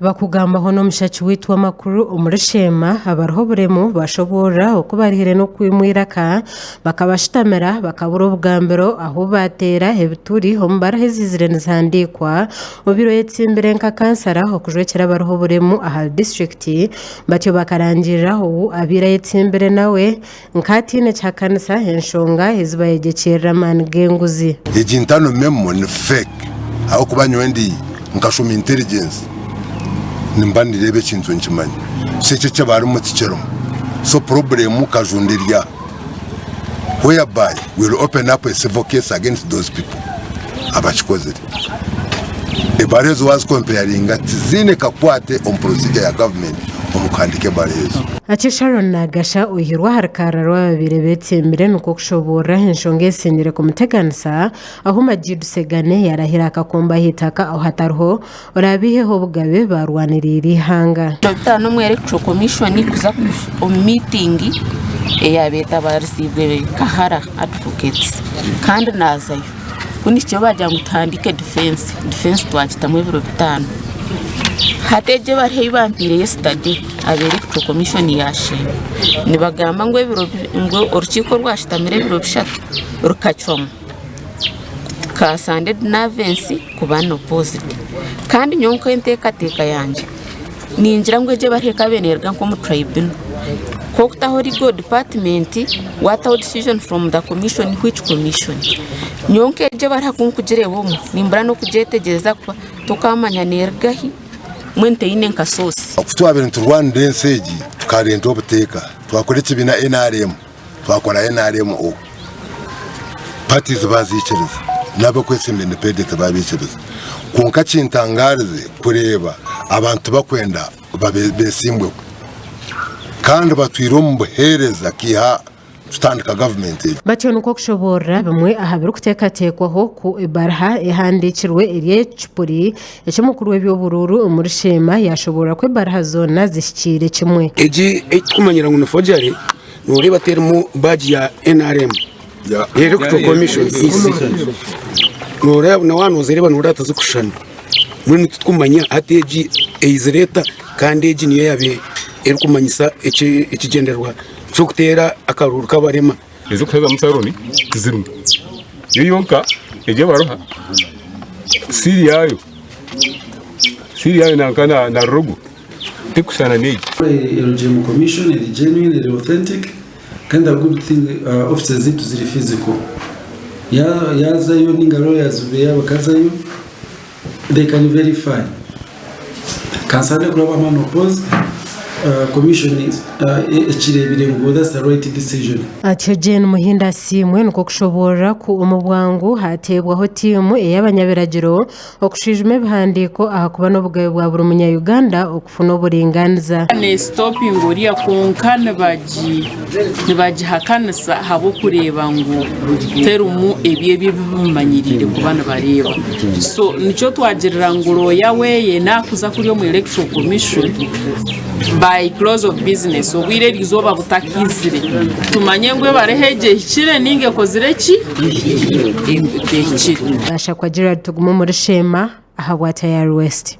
Bakugambaho n'omushaki waitu w'amakuru omuri sheema abariho oburemu bashoboorora oku barihire n'okwimwa eiraka bakabashutamira bakabura obugambiro ahu baateera ebituri omu bariho eziizire nizihandiikwa obiire oyetsimbire nka kansara okujwekyera abariho oburemu ahari disiturikiti batyo bakarangirira ou abaire ayetsimbire nawe Nk'ataine kihakanisa enshonga ezi bayegyekyerire amaani g'enguzi. Egi ntano memo ni fake ahabw'okuba nyowe ndi nkashoma intelligence nimba nireeba ekintu nkimanya so eki ekibarimu tikirimu so problem kajunda eri aha whereby will open up a civil case against those people abakikozire. Ebara ezo waazikompayaringa tiziine kakwate omu porosigya ya gavumenti omu kuhandiika ebara ezo. Atyo Sharon naagasha oihirwe aha rukarra rw'ababaire beetsimbire nikwo kushoboorora enshonga ezisingiire kumuteganisa, ahu Majid Segane yaarahira akakombo aha itaka ahu hatariho oraabaiheho obugabe baarwaniriire eihanga. Dokita Nomwere kucweka omwishwani kuza omu miitingi eya beetabariziibwe Kahara Advocates kandi naazayo. Ku nikyo baagira ngu tuhandiike difensi. Difensi twagitamu ebiro bitaano. Hati egyo bariho ei bampaire yesitade, aba eri kutwo komishoni yaashemba. Nibagamba ngu ebiro bi, ngu orukiiko rwashutamire ebiro bishatu rukacwamu, ka Sande Dinavensi kuba nopoozidi. Kandi nyowe nk'enteekateeka yangye, Ningira ngu egyo ebara ekaba neruga nka omu tribunal kwa okutaho legal department wataho decision from the commission which commission nyowe nka egyo ebara ku nkugireeba omu nimbura n'okugyetegyereza kuba tokamanya neruga ahi mbwenu teyine nka source. Ku twabire niturwanira ensi egi tukarenta obuteeka twakora ekibiina nrm. Twakora NRMO, pati ziba ziikiriza n'ab'okwetsinda independent ba biikiriza. Kwonka kintangaarize kureeba abantu bakwenda beesimbweho kandi batwire omu buheereza kwiha tutandika gavumenti egi. Batyo nikwo kushoboorora bimwe aha birikuteekateekwaho ku ebaruha ehandiikirwe eri ekipuri eky'omukuru w'eby'oburuuru omuri sheema yaashoboorora ku ebaruha zoona zihikiire kimwe. Egi ei turikumanyira ngu ni forgery Noreeba terimu badge ya nrm electoral commission EC noreeba buna waaba nozireeba noreeba tizikushushana mbwenu titwumanya hati egi eyizire eta kandi egi niyo eyaba erikumanyisa ekigyendererwa ky'okuteera akaruuru k'abarema ez'okuhezamu saloni tizirimu yo yonka egi abaruha siiri yaayo siiri yaayo nanka na na rogo erikushushana n'egi. LGM commission eri genuine, eri authentic kandi a good thing offices zaitu ziri physical. Yaazayo nainga lawyers be yaaba akazayo, they can verify. Ka nsabe kuraba unopposed, commission ekireebire ngu that's the right decision. Atyo Gen Muhindo Asiimwe nikwo kushoboorora ku omu bwangu haateebwaho tiimu ey'abanyabiragiro, Okushwijuma ebihandiiko ahakuba n'obugabe bwa buri munya Uganda okufuna oburinganiza. Neesitopinga oriya kwonka nibagihakanisa ahabw'okureeba ngu terimu ebyo ebi bamumanyiriire kuba nibareeba. So nikyo twagirira ngu looya weeye naakuza kuri omu Electoral Commission by close of business obwire erizooba butakaizire tumanye ngu ebara egi ehikire nainga ekozire ki. Gashakwa Gerald Tugume omuri Sheema aha bwa Tayari West.